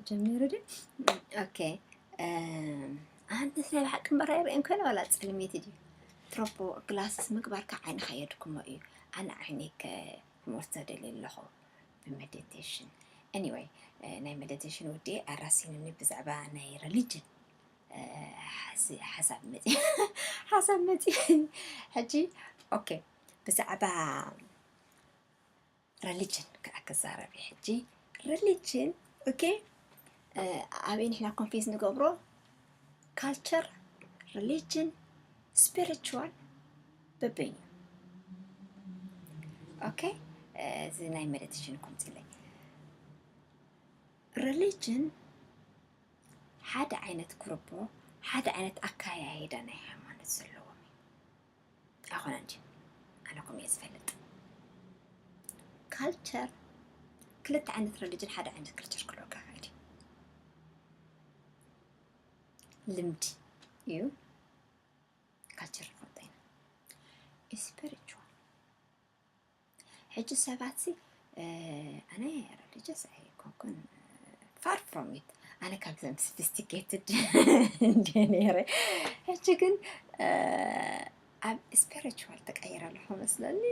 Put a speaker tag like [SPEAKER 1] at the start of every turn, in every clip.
[SPEAKER 1] ጀሚሩ ድዩ ኦኬ ኣንቲ ናይ ብሓቂ እምበር ኣይርእን ኮይነ ዋላ ፅልሜት ድዩ ትሮፖ ግላስስ ምግባርካ ዓይንኻ የድክሞ እዩ ኣነ ዓይነይ ከ ክመርቶ ደልየ ኣለኹ መደቴሽን ኤኒወይ ናይ መደቴሽን ውዲ ኣራሲንኒ ብዛዕባ ናይ ረሊጅን ሓሳብ መፂ ሓሳብ መፂ ሕጂ ኦኬ ብዛዕባ ረሊጅን ከዓ ክዛረብ እዩ ሕጂ ረሊጅን ኦኬ ኣበይ ንሕና ኮንፌስ ንገብሮ ካልቸር ረሊጅን ስፒሪቹዋል ብብኝ ኦኬ እዚ ናይ መደትሽን ኩምፅለይ ሪሊጅን ሓደ ዓይነት ኩርቦ ሓደ ዓይነት ኣካያይዳ ናይ ሃይማኖት ዘለዎም እዩ ኣኾነ እንጂ ኣነኩም እየ ዝፈልጥ ካልቸር ክልተ ዓይነት ሪሊጅን ሓደ ዓይነት ካልቸር ክልኦካ ይኽእል እዩ ልምዲ እዩ ካችር ፎንቴን ስፒሪቹዋል ሕጂ ሰባትሲ ኣነ ረሊጀስ ኣይኮንኩን ፋር ፍሮም ኢት ኣነ ካብዘም ስፊስቲኬትድ እንደ ነይረ ሕጂ ግን ኣብ ስፒሪቹዋል ተቀይረ ኣለኹ መስለኒ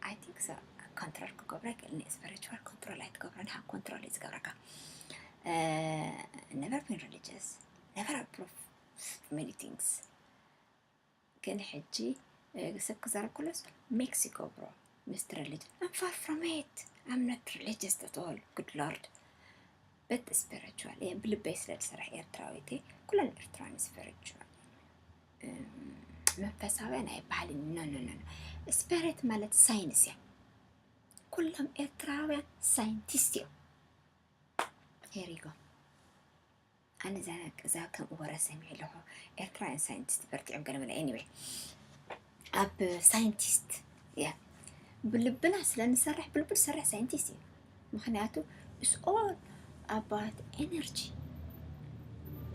[SPEAKER 1] ኣይ ቲንክ ሶ ኮንትሮል ክገብሮ ይክእልኒ ስፒሪቹዋል ኮንትሮል ኣይትገብረን ሃብ ኮንትሮል እዩ ዝገብረካ ነቨር ቢን ሪሊጅስ ነቨር ኣፕሩቭ many things ግን ሕጂ ሰብ ክዛረብኩለስ ሜክሲኮ ብሮ ምስቲ ሪሊጅን ኣም ፋር ፍሮም ኢት ኣም ኖት ሪሊጅስ ኣት ኦል ጉድ ሎርድ በት ስፒሪቹዋል እየ ብልበይ ስለ ዝሰርሕ ኤርትራዊት እየ ኩለን ኤርትራውያን ስፒሪቹዋል መንፈሳውያን ኣይበሃልን ኖ ኖ ኖ ስፒሪት ማለት ሳይንስ እያ ኩሎም ኤርትራውያን ሳይንቲስት እዮም ሄሪጎ ኣነ እዛ እዛ ከምኡ ወረ ሰሚዐ ኣለኹ ኤርትራውያን ሳይንቲስት በርቲዖም ገለ መለ ኤኒዌይ ኣብ ሳይንቲስት እያ ብልብና ስለ ንሰርሕ ብልቡ ዝሰርሕ ሳይንቲስት እዩ ምክንያቱ ኢስ ኦል ኣባት ኤነርጂ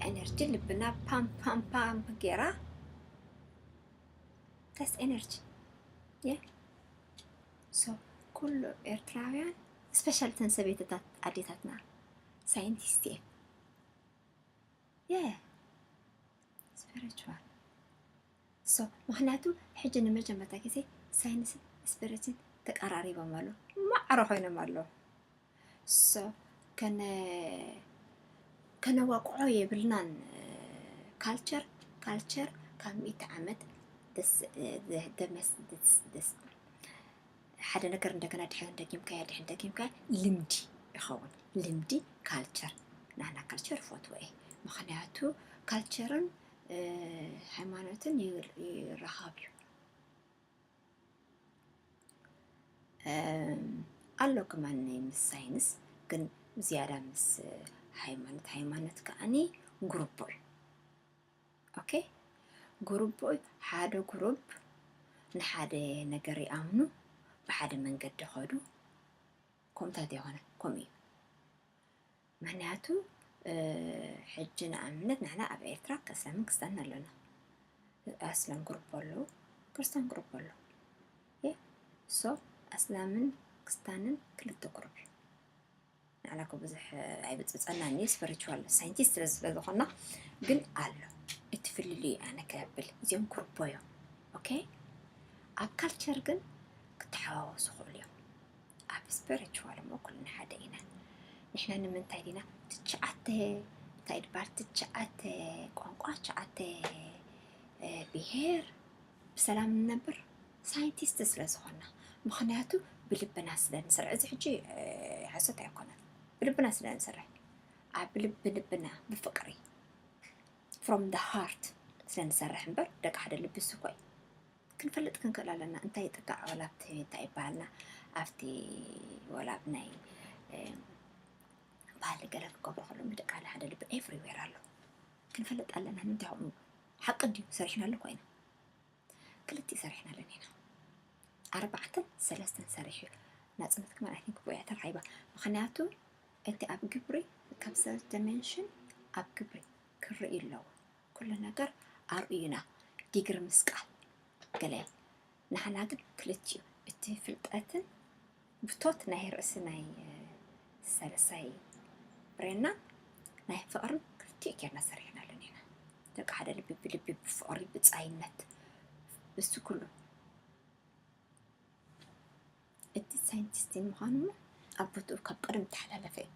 [SPEAKER 1] ኤነርጂ ልብና ፓም ፓም ፓም ጌራ ተስ ኤነርጂ የ ሶ ኩሉ ኤርትራውያን ስፔሻል ተን ሰበይትታት ኣዴታትና ሳይንቲስት እየ የ ስፒሪቹዋል ሶ ምክንያቱ ሕጂ ንመጀመርታ ግዜ ሳይንስን ስፒሪትን ተቀራሪቦም ኣሉ ማዕረ ኮይኖም ኣለ ሶ ከነ ከነዋቅዖ የብልናን ካልቸር ካልቸር ካብ ሚእቲ ዓመት ደስ ደስ ደስ ሓደ ነገር እንደገና ድሕርን ደጊምካዮ ድሕርን ደጊምካዮ ልምዲ ይኸውን ልምዲ ካልቸር ናና ካልቸር ይፈትዎ እየ ምክንያቱ ካልቸርን ሃይማኖትን ይራኸብ እዩ ኣሎ ክማን ምስ ሳይንስ ግን ዝያዳ ምስ ሃይማኖት ሃይማኖት ከዓኒ ጉርቦ እዩ ኦኬ ጉሩብ ሓደ ጉሩብ ንሓደ ነገር ይኣምኑ ብሓደ መንገዲ ኸዱ ከምታት የኾነ ከምኡ እዩ ምክንያቱ ሕጂ ንኣብነት ንሕና ኣብ ኤርትራ ከስላምን ክስታን ኣለና ኣስላም ግሩፕ ኣለዉ ክርስታን ግሩፕ ኣለዉ ሶ ኣስላምን ክስታንን ክልተ ግሩፕ እዩ ንዓና እኮ ብዙሕ ኣይብፅፀናን እዩ ስፕሪቹዋል ሳይንቲስት ስለ ዝበልኾና ግን ኣሎ እቲ ፍልልይ ኣነ ከብል እዚኦም ኩርቦ እዮም ኦኬ ኣብ ካልቸር ግን ክተሓዋወሱ ይኽእሉ እዮም ኣብ ስፕሪቹዋል እሞ ኩልና ሓደ ኢና ንሕና ንምንታይ ዲና ትሽዓተ እንታይ ድባር ትሽዓተ ቋንቋ ትሽዓተ ብሄር ብሰላም ንነብር ሳይንቲስት ስለ ዝኾና ምኽንያቱ ብልብና ስለ ንሰርሕ እዚ ሕጂ ሓሶት ኣይኮነን ብልብና ስለ ንሰርሕ ኣብ ልቢ ልብና ብፍቅሪ ፍሮም ደ ሃርት ስለ ንሰርሕ እምበር ደቂ ሓደ ልቢ ስኮይ ክንፈልጥ ክንክእል ኣለና እንታይ ጥጋዕ ወላ ኣብቲ እንታይ ይበሃልና ኣብቲ ወላ ኣብ ናይ ባህሊ ገለ ክገብሩ ከሎ ምድቃ ሓደ ልቢ ኤቭሪዌር ኣሎ ክንፈልጥ ኣለና ንምንታይ ከምኡ ሓቂ እንድዩ ሰሪሕናሉ ኮይና ክልቲኡ ሰሪሕናለን ኢና ኣርባዕተን ሰለስተን ሰሪሑ ናፅነት ክመን ኣይ ቲንክ ብያ ተራኺባ ምክንያቱ እቲ ኣብ ግብሪ ካብ ሰብ ደሜንሽን ኣብ ግብሪ ክርኢ ኣለዎ ኩሉ ነገር ኣርእዩና ዲግሪ ምስቃል ገለ ንሓና ግን ክልቲኡ እቲ ፍልጠትን ብቶት ናይ ርእሲ ናይ ሰለሳይ ብሬና ናይ ፍቕርን ክልቲኡ ጌርና ሰሪሕናሉ ኔና ደቂ ሓደ ልቢ ብልቢ ብፍቕሪ ብጻይነት ብሱ ኩሉ እቲ ሳይንቲስት ምዃኑ ኣብ ቦትኡ ካብ ቀደም ተሓላለፈ እዩ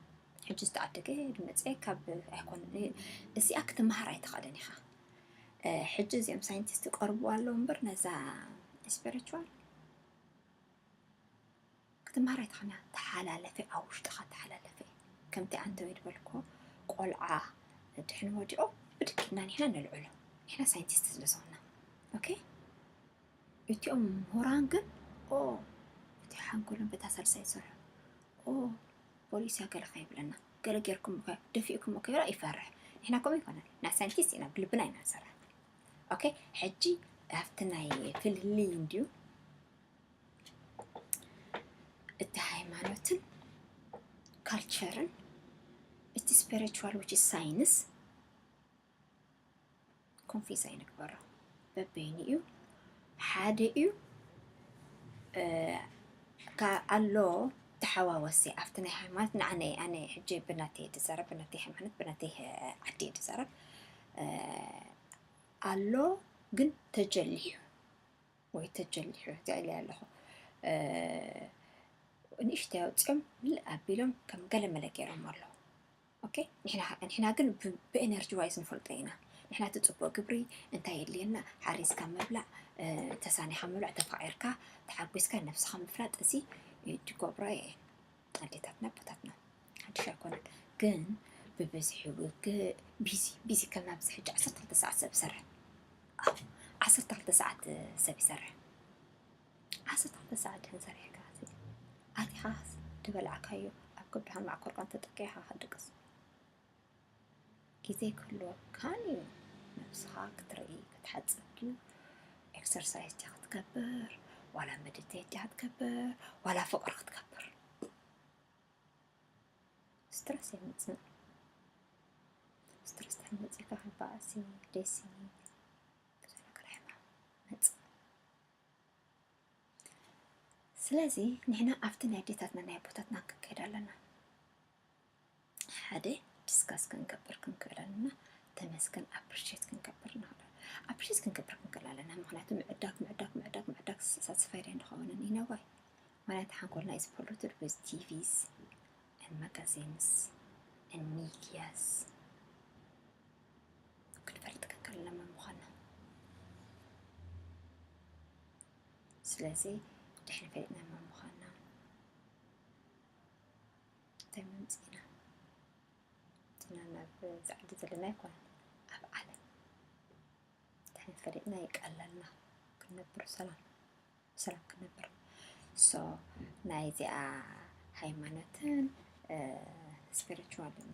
[SPEAKER 1] ሕጂ ዝተዓደገ ድመፀ ካብ ኣይኮን እዚኣ ክትመሃር ኣይትኽእልን ኢኻ ሕጂ እዚኦም ሳይንቲስት ቀርቡ ኣለዉ እምበር ነዛ ስፒሪቹዋል ክትምሃር ኣይትኽእልን ኢኻ ተሓላለፈ ኣብ ውሽጥኻ ተሓላለፈ ከምቲ ኣንተወ ዝበልኮ ቆልዓ ድሕን ወዲቑ ብድክ ኢልና ንሕና ነልዕሎ ንሕና ሳይንቲስት ስለ ዝኾና ኦኬ እቲኦም ምሁራን ግን ኦ እቲ ሓንጎሎም በታ ሳልሳይ ይሰርሑ ኦ ፖሊስ ያገለኸ ይብለና ገለ ጌርኩም ደፊእኩም ከራ ይፈርሕ ንሕና ከምኡ ይኮነን ናይ ሳይንቲስት ኢና ብልብና ኢና ንሰርሕ ኦኬ ሕጂ ኣብቲ ናይ ፍልልይ እንድዩ እቲ ሃይማኖትን ካልቸርን እቲ ስፒሪቹዋል ዊች ሳይንስ ኮንፊዝ ኣይንግበሮ በበይኑ እዩ ሓደ እዩ ኣሎ ተሓዋወሲ ኣብቲ ናይ ሃይማኖት ንዓነ ኣነ ሕጂ ብናተይ ድዛረብ ብናተይ ሃይማኖት ብናተይ ዓዲ ድዛረብ ኣሎ ግን ተጀሊሑ ወይ ተጀሊሑ ትዕሊ ኣለኹ ንእሽተይ ኣውፅኦም ምልእ ኣቢሎም ከም ገለ መለ ገይሮም ኣለዉ ኦኬ ንሕና ግን ብኤነርጂ ዋይስ ንፈልጦ ኢና ንሕና እቲ ፅቡቅ ግብሪ እንታይ የድልየና ሓሪስካ ምብላዕ ተሳኒኻ ምብላዕ ተፋቂርካ ተሓጒስካ ነብስኻ ምፍላጥ እዚ ትገብሮ እየ ኣዴታትና ኣቦታትና ሓድሽ ኣይኮነን ግን ብብዝሒ ውግእ ቢዚ ቢዚ ከም ኣብዚ ሕጂ ዓሰርተ ክልተ ሰዓት ሰብ ይሰርሕ ኣዎ ዓሰርተ ክልተ ሰዓት ሰብ ይሰርሕ ዓሰርተ ክልተ ሰዓት ድሕን ሰሪሕካ ኣቲኻ ድበላዕካዮ ኣብ ከብድኻን መዓኮርካን ተጠቂዕካ ክትድቅስ ግዜ ክህልወካን እዩ ነብስኻ ክትርኢ ክትሓጽብ ድዩ ኤክሰርሳይስ ድያ ክትገብር ዋላ መዲቴት ድያ ክትገብር ዋላ ፍቅሪ ክትገብር ስትረስ የምጽእ ስትረስ ድሕሪ መጺእካ ካብ ባእሲ ዴሲ ብዙሕ ነገር ሕማም መጽእ ስለዚ ንሕና ኣብቲ ናይ ኣዴታትና ናይ ኣቦታትና ክንከይድ ኣለና ሓደ ዲስካስ ክንገብር ክንክእል ኣለና ተመስገን ኣፕሪሼት ክንገብር ንኽእል ኣፕሪሼት ክንገብር ክንክእል ኣለና ምክንያቱ ምዕዳግ ምዕዳግ ምዕዳግ ምዕዳግ ሳትስፋይድ ኣይንኸውንን ኢና ዋይ ምክንያቱ ሓንኮልና ኢዝ ፖሉትድ ዊዝ ቲቪስ ን ማጋዚንስ ን ሚድያስ ክንፈልጥ ክንክእል ኣለና መን ምዃንና ስለዚ ድሕሪ ፈሊጥና መን ምዃንና እንታይ መምፂእና እትና ናብ ዛዕዲ ዘለና ይኮነ ኣብ ዓለም እንታይ ፈሊጥና ይቀለልና ክንነብር ሰላም ሰላም ክንነብር ሶ ናይ እዚኣ ሃይማኖትን ስፒሪቹዋልን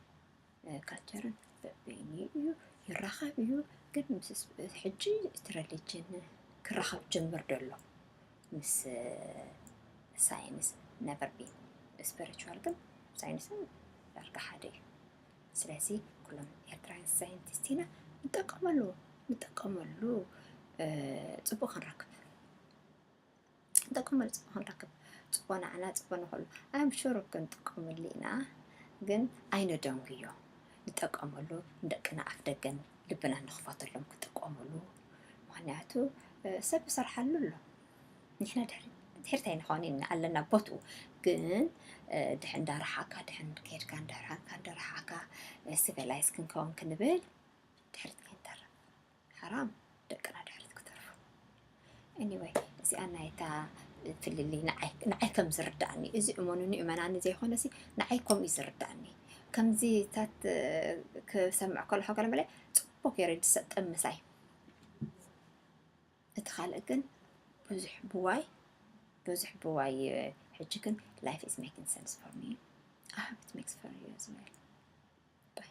[SPEAKER 1] ካልቸርን በበይኑ እዩ ይራኸብ እዩ ግን ምስ ሕጂ እቲ ረሊጅን ክራኸብ ጀምር ደሎ ምስ ሳይንስ ነበር ቢን ስፐሪቹዋል ግን ሳይንስን ዳርጋ ሓደ እዩ ስለዚ ኩሎም ኤርትራውያን ሳይንቲስት ኢና ንጠቀመሉ ንጠቀመሉ ጽቡቅ ክንረክብ ጠቅሙ ንጽቦ ክንረክብ ጽቦ ንዓና ጽቦ ንኹሉ ኣም ሹር ክንጥቀመሉ ኢና ግን ኣይነደንጉዮ ንጠቀመሉ ንደቅና ኣፍ ደገን ልብና ንኽፈተሎም ክጥቀመሉ ምክንያቱ ሰብ ይሰርሓሉ ኣሎ ንሕና ድሕሪ ድሕርቲ ኣይንኾን ኢና ኣለና ቦትኡ ግን ድሕ እንዳረሓካ ድሕን ከድካ እንዳረሓካ እንዳረሓካ ሲቪላይዝ ክንከውን ክንብል ድሕርቲ ክንተርፍ ሓራም ደቅና ድሕሪት ክተርፉ Anyway እዚኣ ናይታ ፍልልይ ንዓይ ንዓይ ከም ዝርዳእኒ እዚ እመኑኒ እመናኒ ዘይኮነሲ ንዓይ ከምኡ እዩ ዝርዳእኒ ከምዚታት ክሰምዕ ከለሖ ገለ መለ ፅቡቅ ገይረ ዝሰጠም ምሳይ እቲ ካልእ ግን ብዙሕ ብዋይ ብዙሕ ብዋይ ሕጂ ግን ላይፍ ኢዝ ሜኪንግ ሰንስ ፎር ሚ ኣሃብት ሜክስ ፎር ዩ ዝመል ባይ